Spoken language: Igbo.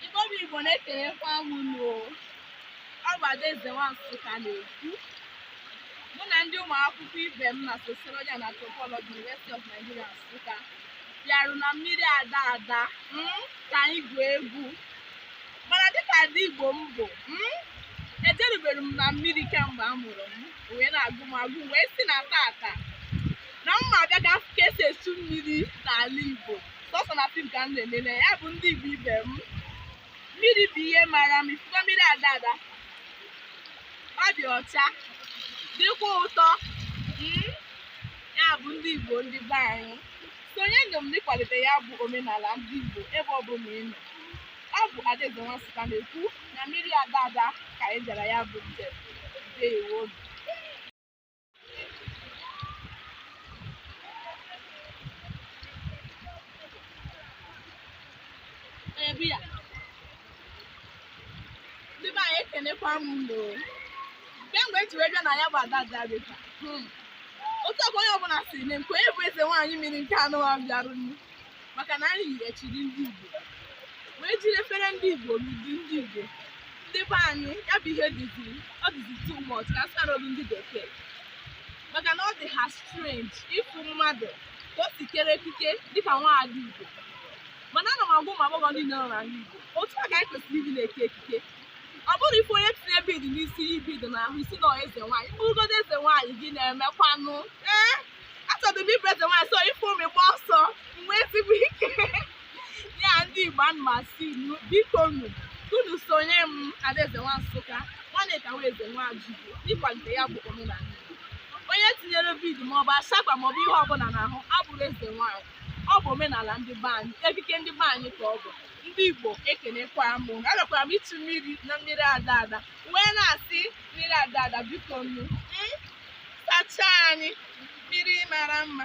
Igbo bụ Igbo na-ekelekwa m unu o ọ bụ Adaeze nwa Nsụka na-ekwu mụ na ndị ụmụ akwụkwọ ibe m na Sociology and Anthropology University of Nigeria Nsụka bịarụ na mmiri ada ada mm, ka anyị gwuo egwu mana dịka ada Igbo m bụ mm, ejerubero m na mmiri kemgbe a mụrụ m o wee na-agụ m agụụ m wee sị na taata na m ma abịa ka afụ ka e si echu mmiri n'ala Igbo sọsọ na fim ka m na-elele ya bụ ndị Igbo ibe m mmiri bụ ihe mara m ifufe mmiri ada ada ọ dị ọcha dịkwa ụtọ mm, ya bụ ndị Igbo ndị be anyị sonyenụ m n'ịkwalite ya bụ omenala ndị Igbo ebe ọ bụla ị nọ ọ bụ Adaeze nwa Nsụka na-ekwu na mmiri ada ada ka anyị bịara ya bụ njem ndewo na-ebu ya ndị be anyị ekenekwa m unu kemgbe e ji wee bịa na ya bụ ada bịarịta hmm. otu ọkwa onye ọbụla sị na nke onye bụ eze nwaanyị mmiri nke anụwa bịarụ maka na anyị yighachiri ndị Igbo wee jiri efere ndị Igbo udu ndị Igbo ndị be anyị ya bụ ihe dịzi ọ dịzi too much ka a sụọ n'olu ndị bekee maka na ọ dị ha strange ịfụ mmadụ ka o si kere ekike dịka nwaada Igbo mana ana m agwa ụmụ agbọghọ niile nọ n'ala Igbo otu a ka anyị kwesịrị ịdị na-eke ekike ọ bụrọ ị fụ onye tinye bead n'isi ya bead n'ahụ ị sị na eze nwaanyị m bụrụgodu eze nwaanyị gịnị na-emekwanụ ee achọdụ m ịbụ eze nwaanyị so ị fụ m gbaa ọsọ gbaa ezigbo ike ya ndị Igbo ana m asị unu bikonụ unu sonye m Adaeze nwa Nsụka nwanne ka wee eze nwa Ajigbo ịkwalite ya bụ omenala Igbo onye tinyere bead maọbụ ashakpa maọbụ ihe ọbụla n'ahụ abụrọ eze nwaanyị ọ bụ omenala ndị be anyị ekike ndị be anyị ka ọ bụ ndị Igbo ekenekwa m unu agakwara m ichu mmiri na mmiri ada ada wee na-asị mmiri ada ada bikonụ sachaa anyị mmiri mara mma